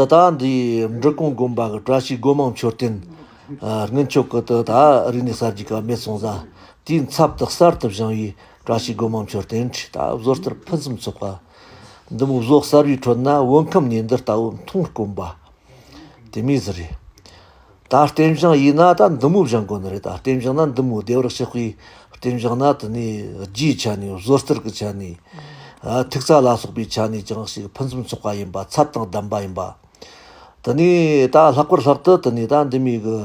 ད་ལྟ་འདི་འབྲི་གུང་དགོན་པ་གི་བཀྲ་ཤིས་སྒོ་མང་མཆོད་རྟེན་དངུལ་མཆོད་ཀྱི་དེ་ད་རིག་གནས་གསར་བརྗེ་སྐབས་མེད་སོང་ཙང་དེའི་མཚམས་དུ་གསར་དུ་བཞེངས་བའི་བཀྲ་ཤིས་སྒོ་མང་མཆོད་རྟེན་ཁྲི་ད་བཟོ་ལྟར་ཕུན་སུམ་ཚོགས་པ། འདི་མོ་བཟོ་གསར་བའི་ཁྲོད་ན་བོད་ཁམས་ནས་འདི་ལྟ་བུ་མཐོང་དཀོན་པ་དེ་མེད་ཟེར། ད་ལྟེམ་བྱང་ཡིན་ན་ད་འདི་མོ་བཞག་དགོས་ནི་རེད་ད་ལྟེམ་བྱང་ན་འདི་མོ་བདེ་བར་གཤེགས་པའི་ལྟེམ་བྱང་ན་དེ་ནས་རྒྱའི་ཆ་ནས་བཟོ་རྩལ་གྱི་ཆ་ནས། ཐིག་རྩ་ལ་སོགས་པའི་ཆ་ནས་ཀྱང་ཞིག་ཕུན་སུམ་ཚོགས་པ་ཡིན་པ་ཚབ་དང་ལྡན་པ་ཡིན་པ། དེ་ནས་ད་ལྷག་པར་ལྷག་ཏུ་དེ་ནས་ད་འདི་མོའི་གི།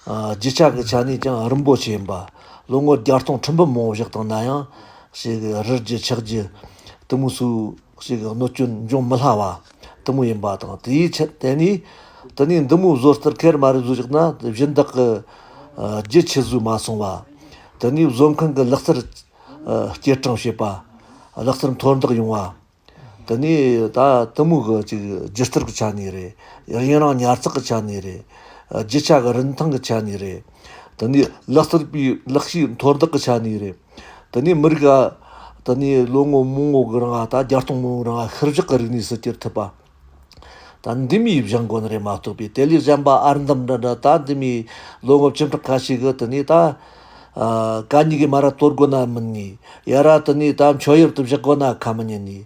རྒྱུ་ཆ་གི་ཆ་ནས་ཀྱང་རིན་པོ་ཆེ་ཡིན་པ། ལོ་ངོ་བརྒྱ་སྟོང་ཁྲི་འབུམ་མང་པོ་བཞག་དང་ན་ཡང། ཞེས་རིལ་རྒྱུ་ཆགས་རྒྱུ་དེ་མོ་སུ་ཞིག་གི་གནོད་སྐྱོན་འབྱུང་མི་སླ་བ། གཏི་མུག་ཡིན་པ་དང་དེའི་ཕྱིར་དེ་ནི། དེ་ནི་འདི་མོའི་བཟོ་ལྟར་ཁལ་མ་རེ་བཟོས་ཅིག་ན་གཞི་བདག་གི། རྒྱུ་ཆད་བཟོས་མ་སོང་བ། དེ་ནི་བཟོ་མཁན་གྱི་ལག་རྩལ། སྐྱེལ་སྤྲང་བྱེད་པ། ལག་རྩལ་མཐོར་འདེགས་ཡོང་བ། དེ་ནི་ད་གཏི་མུག་གི་ཅིག་སྒྱུ་རྩལ་གྱི་ཆ་ནས་རེད། ཡུན་རིང་ཉར་ཚགས་ཀྱི་ཆ་ནས་རེད། རྒྱུ་ཆ་གྱི་རིན་ཐང་གི་ཆ་ནས་རེད། དེ་ནི་ལག་རྩལ་པའི་ལག་ཤེས་མཐོར་འདེགས་ཀྱི་ཆ་ནས་རེད། དེ་ནས་མི་རིགས་ལ་དེ་ནས་ལོ་ངོ་མང་བོ་གི་རིང་ལ་ད་བརྒྱ་སྟོང་མང་བོའི་རིང་ལ་ཤི་བཞག་གི་རིག་གནས་སུ་གྱུར་ཐུབ་པ། ད་འདི་མིའི་གཞན་དགོན་རེད་མ་གཏོགས་པའི་དེ་ལས་གཞན་པ་ཨར་འདམ་འདྲ་འདྲ་ད་འདི་མིའི་ལོ་ངོ་བཅུ་ཕྲག་ཁ་ཤས་གི་དེ་ནས་ད། ག་ཉི་གའི་མ་ར་གཏོར་དགོས་ན་མི་ཉན། ཡ་ར་དེ་ནས་ད་མཆོད་ཡུལ་དུ་བཞག་དགོས་ན་ཁ་མི་ཉན།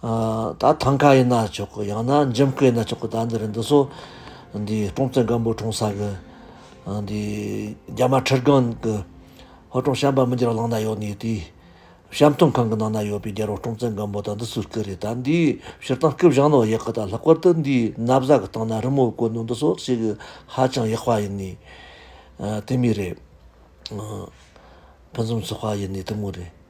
ད་ཐང་ཀ་ཡིན་ན་ཆོག་གི་ཡང་ན་འཇམ་སྐད་ཡིན་ན་ཆོག་གི་ད་འདི་རུ་འདི་ཚོ་འདི་ཀྲོང་ཙེ་སྒམ་པོ་གྲོང་ས་གི་འདི་རྒྱ་དམར་ཁྲི་སྒང་གི་ཧོ་ཀྲོང་བྱམས་པ་མི་འགྱུར་བ་ལང་ན་ཡོད་ནི་དེའི་བྱམས་མཐོང་ཁང་གི་ནང་ན་ཡོད་པའི་རྒྱལ་རོང་ཀྲོང་ཙེ་སྒམ་པོ་ད་འདི་ཚོའི་སྐད་རེད་ད་འདིའི་ཕྱིར་བཏང་སྐད་བཞེངས་ནོ་ཡག་གི་ད་ལྷག་པར་དུ་འདིའི་ན་བཟའ་གི་སྟེང་ན་རི་མོ་བཀོད་ནོ་འདི་ཚོ་བྱེད་གི་ཧ་ཅང་ཡག་པ་ཡིན་ནི་དེ་མི་རེད། ཕུན་སུམ་ཚོགས་པ་ཡིན་ནི་དེ་མོ་རེད།